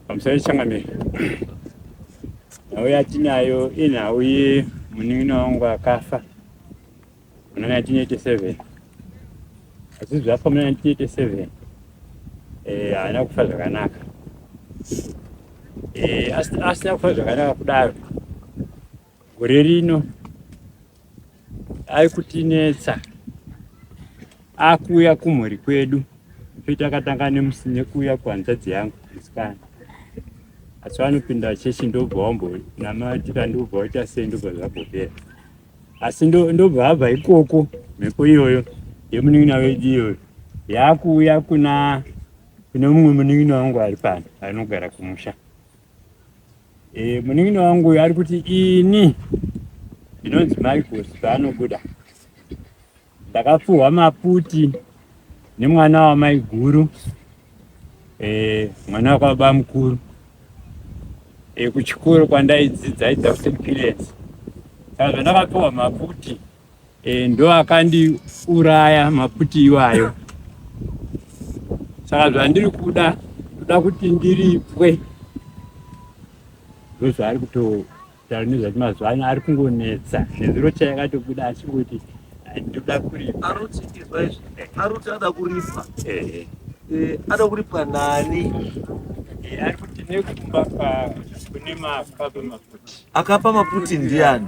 pamusoro changamire nhau yatinayo inhau ye munin'ina wangu akafa muna 1987 asi zvafa muna 1987 eh, haana kufa zvakanaka eh, asina kufa zvakanaka kudaro Gore rino aikutinetsa akuuya kumhuri kwedu toita akatanga nemusi nekuuya kuhanzvadzi yangu musikana asi vanopinda chechi ndobva wambonamatira ndobva waita sei ndobva zvabhopera asi ndobva abva ikoko mhepo iyoyo yemunin'ina wedu iyoyo yaakuuya kuna kune mumwe munin'ina wangu ari pano anogara kumusha Eh, munin'ina wangu uyu ari kuti ini ndinonzi Michael paanobuda ndakapfuhwa maputi nemwana wamaiguru eh, mwana wakwababa mukuru eh, kuchikoro kwandaidzidza aidza kuti Pilens saka zvandakapfuhwa maputi Eh, ndo akandiuraya maputi iwayo saka zvandiri kuda ndoda kuti ndiripwe ndozvaari kutotaura nezvati mazuva ano ari kungonetsa nezuro chayakatobuda achingoti ndoda kuripa aroti ada kuripa eh. Eh, ada kuripa nani eh, ari kuti nekumba kune makapa maputi akapa maputi ndiani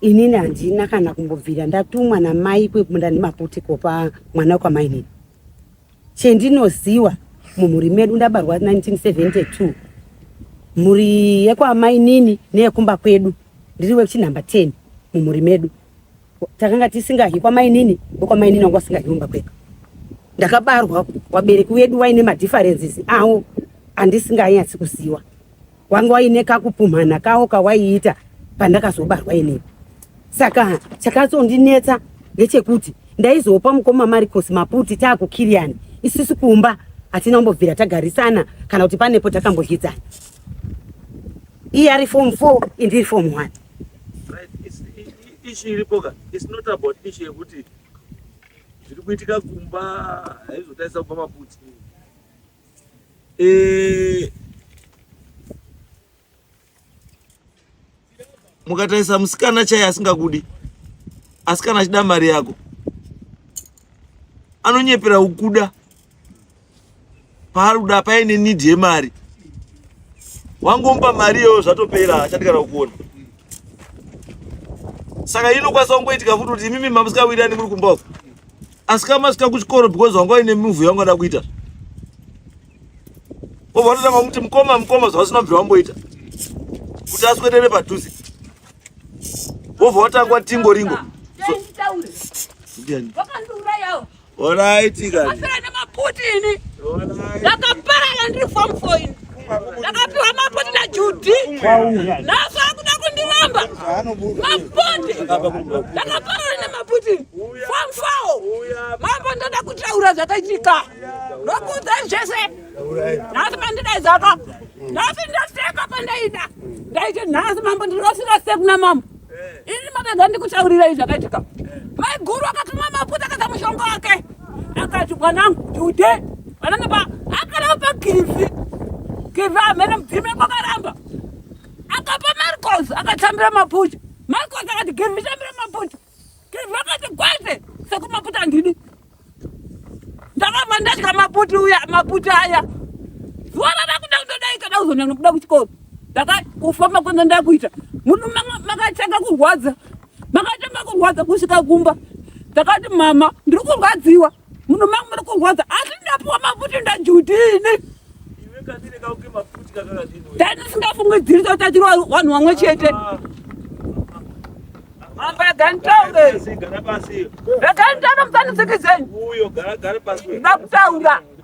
Inini handina kana kumbobvira ndatumwa namai kwekunda nemaputi kopa mwana kwamainini. Chendinoziwa mumhuri medu ndabarwa 1972 mhuri yekwamainini neyekumba kwedu ndiri wekuchinhamba 10 mumhuri medu takanga tisingahi kwamainini wekwamainini wanga wasingahi kumba kwedu ndakabarwa wabereki wedu waine madifferences awo andisinganyatsi kuziwa wanga waine kakupumhana kawo kawaiita pandakazobarwa ini saka chakazondinetsa ndechekuti ndaizopa mukoma maricos maputi taakukiriyani isisi kumba hatina kumbobvira tagarisana kana kuti panepo takambodyedzana iye ari fom four indiri fom one ishi iripoka its not about ishi yekuti zviri kuitika kumba haizotaisa kupa maputi eh, mukatarisa musikana chaiye asingakudi asi kana achida mari yako anonyepera kukuda paari kuda paine need yemari wangomupa mari iyoyo zvatopera achati kana kukuona saka inokwanisa kungoitika futi kuti imimi mamusikawirirani muri kumba uko asi kama sika kuchikoro because wanga uine move yanga da kuita obva watotanga kuti mukoma mukoma zvavasina bvi wamboita kuti aswedere padhuze wobva watangwa tingo ringo Alright, you got it. Alright. Like a parallel form for you. ndakapiwa mapoti najudhi naso akuda kundiramba mapoti ndakaparana nemaputi famfawo mambo ndoda kutaura zvakaitika ndokuudza zvese nhasi pandidaidzaka nhasi ndaseka pandaida ndaiti nhasi mambo ndinofira sekuna mambo ini makadza ndikutaurirai zvakaitika maiguru akakamwa maputa akaza mushonga wake akati mwanangu jude vananga pa akaramba pakivi kivi amene mudzime kwakaramba akapa marcos akatambira maputa marcos akati kivi tambira maputa Vakati kwete sekumaputa ndini ndakabva ndatya maputi uya maputi aya zuva radakuda kutodai kada kuzonda nokuda kuchikoro ndakakufamba kwenda ndakuita muno makatanga kurwadza makatanga kurwadza kusvika kumba ndakati mama ndiri kurwadziwa Muno mangu muri kurwadza asi ndapuwa mafuti ndajudini. Dai ndisingafungidziri totachirwa vanhu vamwe chete. Ah. Mamba yaganitaure. Yaganitaura mutsanitsikizeni. Uyo gara gara pasi. Ndakutaura.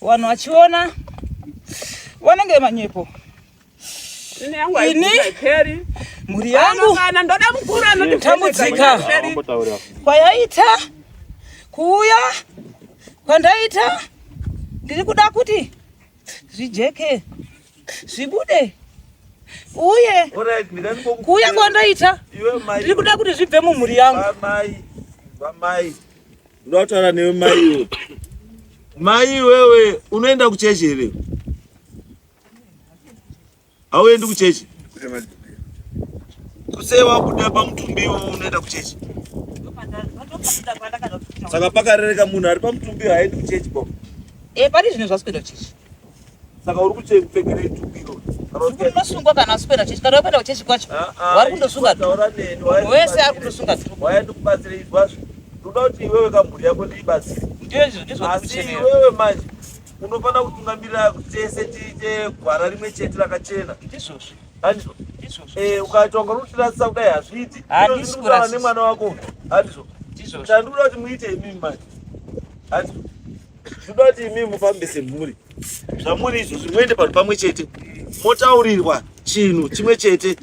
Wanhu wachiona wanenge manyepo ini mhuri yangu tambudzika kwayaita kuuya kwandaita ndiri kuda kuti zvijeke zvibude uye kuuya kwandaita ndiri kuda kuti zvibve mumhuri yangu Ndoda kutaura newe mai iwe. Mai wewe unoenda kuchechi here? Hauendi kuchechi? Kusei wabuda pamutumbi iwe unoenda kuchechi? Saka pakarereka munhu ari pamutumbi haendi kuchechi baba. Eh, pari zvino zvasikuenda kuchechi. saka uri kuchepfekerei tubiro unosungwa kana usipenda chechi kana wapenda kuchechi kwacho ah, ah, wari kundosunga wese ari kundosunga waya ndikubatsire izwazvo ndoda kuti iwewe kamhuri yako ndiibatsire asi iwewe manje unofanira kutungamirira tese tiite gwara rimwe chete rakachena ndizvozvo handizvo eh, ukaita wanga unotirasisa kudai hazviiti ndizvozvo nemwana wako handizvo chandikuda kuti muite imimi manje handizvo Zvoda kuti imi mufambe semhuri. Zvamuri izvozvi muende panhu pamwe chete. Motaurirwa chinhu chimwe chete.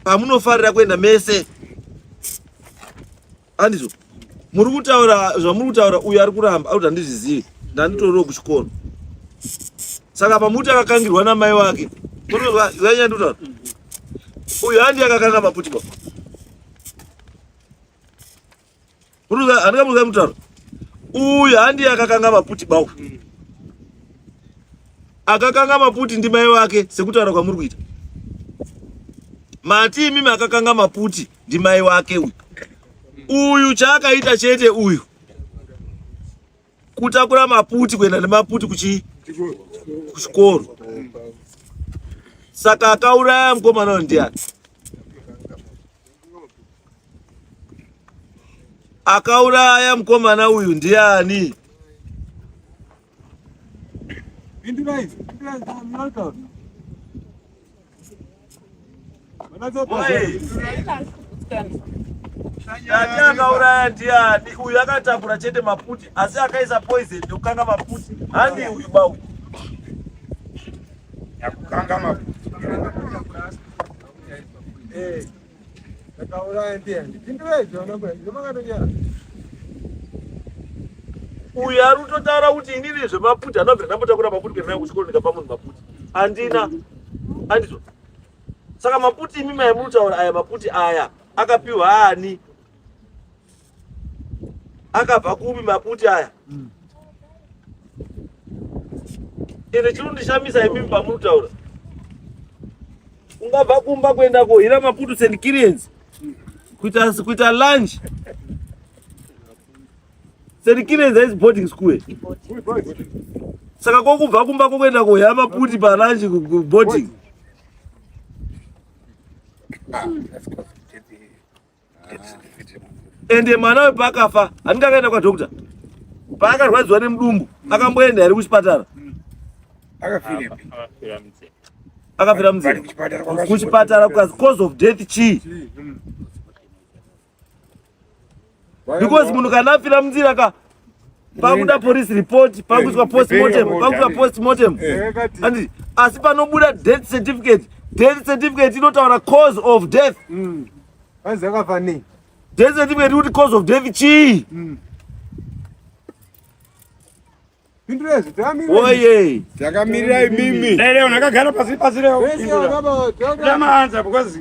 Pamunofarira kuenda mese. Andizvo. Muri kutaura zvamuri kutaura uyu ari kuramba ari kuti handizvizivi. Ndanditoriwo kuchikoro. Saka pamuti akakangirwa namai wake. Kunova zvanyandotaura. Uyu handi akakanga maputibwa. Handika muruza mutaro. Uyu handi akakanga maputi bawo. Hmm. Akakanga maputi ndi mai wake sekutaura kwamuri kuita. Mati imimi akakanga maputi ndi mai wake uyu. Uyu chaakaita chete uyu. kutakura maputi kuenda nemaputi kuchi kuchikoro saka akauraya mukomana uyo ndiani akauraya mukomana uyu ndiani Tati akauraya ndiani? Uyu akatakura chete maputi asi akaisa poison ndokukanga maputi. Handi uyu bau. Yakukanga maputi. Eh. Ndakauraya ndiye ndipindure izvo nokwe ndomakatonyara. Uyu ari kutotaura kuti inini zvemaputi anobvira ndambotakura maputi kuenda nayo kuchikoro ndikapa munhu maputi. Andina. Andizvo. Saka maputi imi mai mutaura aya maputi aya akapiwa ani? akabva kupi maputi aya mm. ende chinondishamisa imimi pamunotaura ungabva kumba kuenda kohira maputu st kiriens kuita kuita lunch st kiriens haizi boarding school saka kokubva kumba kokuenda kohira maputi palunch boarding ah, ende mwana we paakafa aninga akaenda kwa doctor paakarwadziwa nemudumbu akamboenda here kuchipatara akafira mzee kuchipatara kukazi cause of death chii because munhu kana afira munzira ka pakuda police report pakuiswa eh, postmortem eh, eh, pakuiswa postmortem andi asi panobuda death certificate death certificate inotaura cause of death mm. anzi akafa nei death certificate kuti cause of death chii mm. oye takamirirai mimi leo nakagara pasi pasi leo ndamaanza because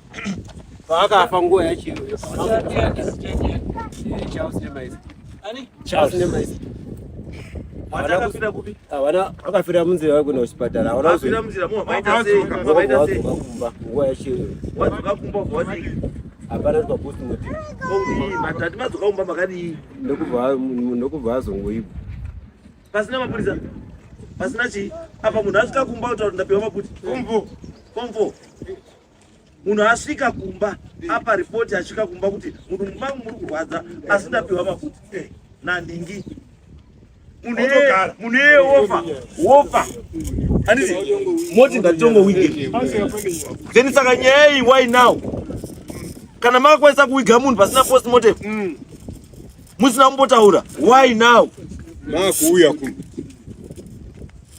paakafa nguva yachino vakafira munzira vakuenda kuchipatara vanakumba nguva yachino hapana twakusimutinokubva vazongoibva pasina mapurisa pasina chii apa munhu asvika kumba kutaura ndapiwa maputi fomfo fomfo munhu asvika kumba apa ripoti asvika kumba kuti munhu mumba muri kurwadza asi ndapiwa makuti eh, nandingi munhu eye wofa wofa anditi moti ndatongo wige then saka nyaya iyi why now kana makakwanisa kuwiga munhu pasina post motive mm. musina kumbotaura why now makuuya kuno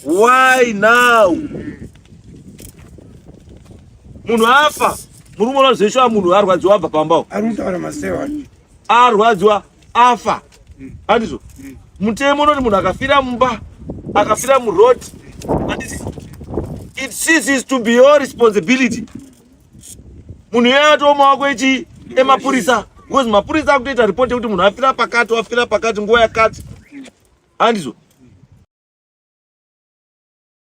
Why now? Munhu afa. Muri kuona zveshuwa munhu arwadziwa abva pamba uko. Ari kutaura masewa wani. Arwadziwa afa. Mm. Handizvo? Mm. Mutemo unoti munhu akafira mumba, akafira muroad. Handizvo? It ceases to be your responsibility. munhu iyeye atoo mawako echi emapurisa because mapurisa akutoita report yekuti munhu afira pakati wafira pakati nguva yakati handizvo